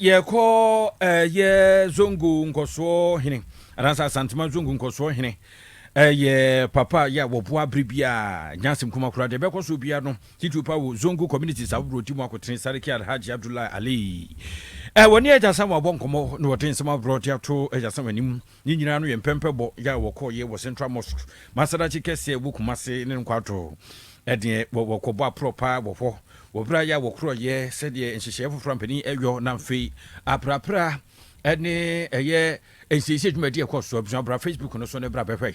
Yɛkɔ ɛyɛ Zongo nkɔsoɔ hene anaasɛ Asantema Zongo nkɔsoɔ hene ɛyɛ papa yɛ a wɔboa bere biara nya asɛm kuma koraa deɛ ɛbɛkɔ so biara no titiri pa wɔ Zongo communities ahodoɔ ti mu akotene Sariki Alhaji Abdullahi Ali ɛwɔ ne agya Samuel abɔ nkɔmmɔ na wɔde nsɛm aborɔ de ato agya Samuel anim Ne nyinaa no yɛ mpɛmpɛbɔ yɛ a wɔkɔɔeɛ wɔ Central Mosque, Masallaci kɛseɛ a ɛwɔ Kumasi ne Nkwato. Ɛdeɛ wɔ wɔkɔɔbɔ aprɔ paa wɔ hɔ wɔ berɛ a yɛ a wɔkorɔɔeɛ sɛdeɛ nhyehyɛeɛ foforɔ a mpanin ɛyɔ na mfei aprapra ɛne ɛyɛ nsiesie dwumadi ɛkɔɔsoɔ. Abusua bra Facebook no so ne bra bɛhwɛ.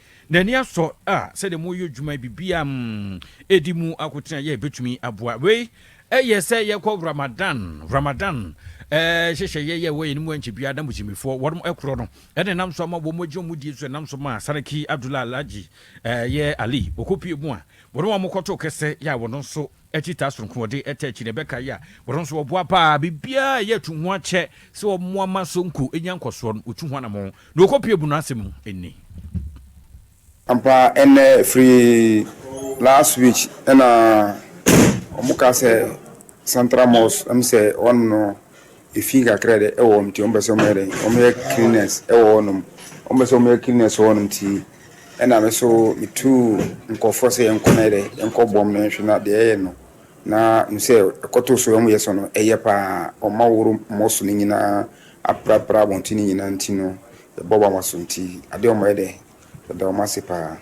N'ani asɔ a sɛdeɛ mo yɛ adwuma yi biribiara mm ɛdi mu akotena yɛ ɛbɛtumi aboa wei ɛyɛ sɛ yɛkɔ Ramadan Ramadan ɛɛ hyehyɛyɛ yɛ wɔ yɛn mu ɛnkyɛ biara na Muslimifoɔ wɔnom ɛkorɔ no ɛna ɛnam so ama wɔn agye wɔn die so ɛnam so maa Saraki Abdullah Alhaji ɛɛ yɛ Ali wɔkɔ pie mu a wɔnom a wɔkɔto kɛsɛ yɛ a wɔnom nso Akyi taa soronko wɔde ɛtaa akyi na ɛbɛkae a wɔn nso wɔboa paa biribiara a ɛyɛ tu ho akyɛ sɛ wɔmmoa ma Sonko nya nkɔsoɔ no wɔtu ho anammɔn na wɔkɔpue bu no asɛm mu nni. Ampa ɛnɛ firi last week ɛna wɔn ka sɛ central mosque ɛm sɛ wɔn no Efi nkakra dɛ wɔ hɔ ntsi wɔpɛ sɛ wɔyɛ dɛn, wɔyɛ cleaners wɔ hɔnom. Wɔpɛ sɛ wɔyɛ cleaners wɔ hɔnom ntsi, nna me so metuu nkorɔfoɔ sɛ yɛnkɔ na yɛ dɛ, yɛnkɔ bɔ hɔn nhwɛ na deɛ yɛyɛ no na hu sɛ ɛkɔtoo so a wɔyɛ sɔ no yɛ paa. Wɔma wɔworo mmɔso no nyina ara aprapra abɔnten no nyina ntsi no, yɛbɔ hɔn abaso ntsi adeɛ a wɔyɛ dɛ, yɛda hɔn ase paa.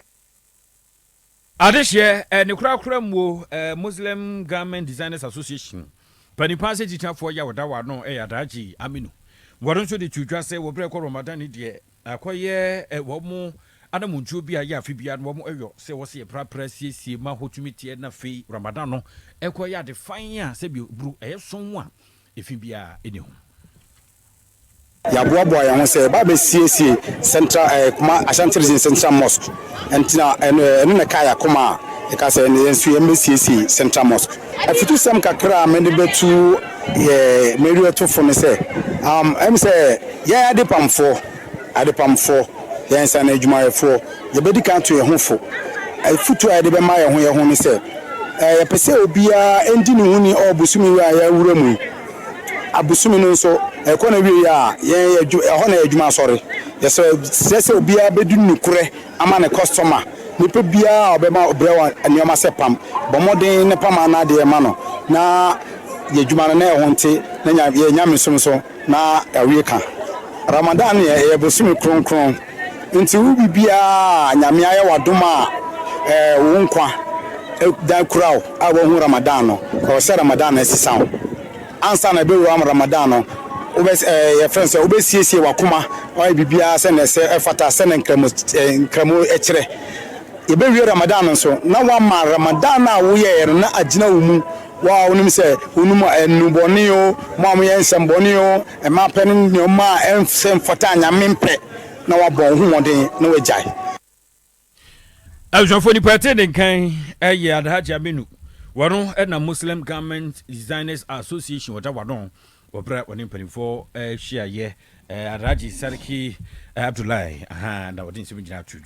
Adehyeɛ, Ne korakora mu o, Muslim Garment Designers Association panimpa ase titiafoɔ yi a ɔda wɔn ano yɛ Alhaji Aminu. Wɔn nso de too dwa sɛ wɔ berɛ a ɛkɔ Ramadan no deɛ, akɔyɛ wɔn anammɔntuo bi a ɛyɛ afe biara no wɔyɔ sɛ wɔsɛ yɛprapra siesie ma hɔ tumi teɛ na afei Ramadan no kɔ yɛ ade fann a sɛdeɛ ɛburu ɛyɛ sɔnn a efi biara nni ho. Yɛaboaboa yɛn ho sɛ yɛbɛba abɛsiesie Central eh, Kuma Ashanti Region Central Mosque. Ɛnti na ɛno eh, ɛno na ɛkaa yɛn akoma a ɛka sɛ ɛnna yɛn nso yɛn bɛsiesie Central Mosque. Afutusɛm kakra a mede bɛtu yɛ mmereatofo ne sɛ, um, ɛm sɛ yɛn adepamfoɔ, adepamfoɔ, yɛn nsaano adwumayɛfoɔ, yɛbɛdi kan ato yɛn ho fo. Afutu a yɛde bɛma yɛn ho yɛn ho ne sɛ, eh, yɛpɛ sɛ obiara ɛndi ne ho ni ɔɔ bosome wei a yɛawura mu yi. Abosome no nso, ɛkɔ n'awieeɛ a, yɛn yɛ adwuma, ɛhɔ na yɛ adwuma asɔre. Yɛsrɛ sɛ obiara bɛdi nokorɛ ama ne kɔstɔma. Nipa biara a ɔbɛma brɛ wo nneɛma sɛ pam, bɔ mmɔden na pam ano adeɛ ma no na yɛ adwuma no na ɛho nte na yɛ nyamesom so na awie ka. Ramadan deɛ, ɛyɛ bosome kronkron. Nti wo biribiara a Nyame ayɛ wo adom a wo nkwa da kura wo a woahu Ramadan no ɛwɔ sɛ Ramadan no asesa wo ansa na ɛbɛwura mu Ramadan no wobɛ yɛfrɛ no sɛ wobɛsiesie w'akoma wayɛ biribiara sɛnea ɛsɛ ɛfata sɛnea nkramo nkramo ɛkyerɛ yɛbɛwie Ramadan no nso na wama Ramadan a woyɛɛ no na agyina wo mu Wo a wonim sɛ honum nnubɔne oo, mo a moyɛ nsɛmmɔne oo, mma pɛ ne nneɛma a ɛnsɛ mfata a Nyame mpɛ, na woabɔ wo ho mmɔden na woagyae. Abusuafoɔ nipa ɛte ne nkan ɛyɛ Alhaji Aminu wɔno ɛnam Muslim Garment Designers Association ɔda wadɔn wɔ berɛ a ɔne mpanimfoɔ ɛhyiaeɛ Alhaji Sarki Abdullahi ahaa na ɔde nsɛm nyinaa to dwa.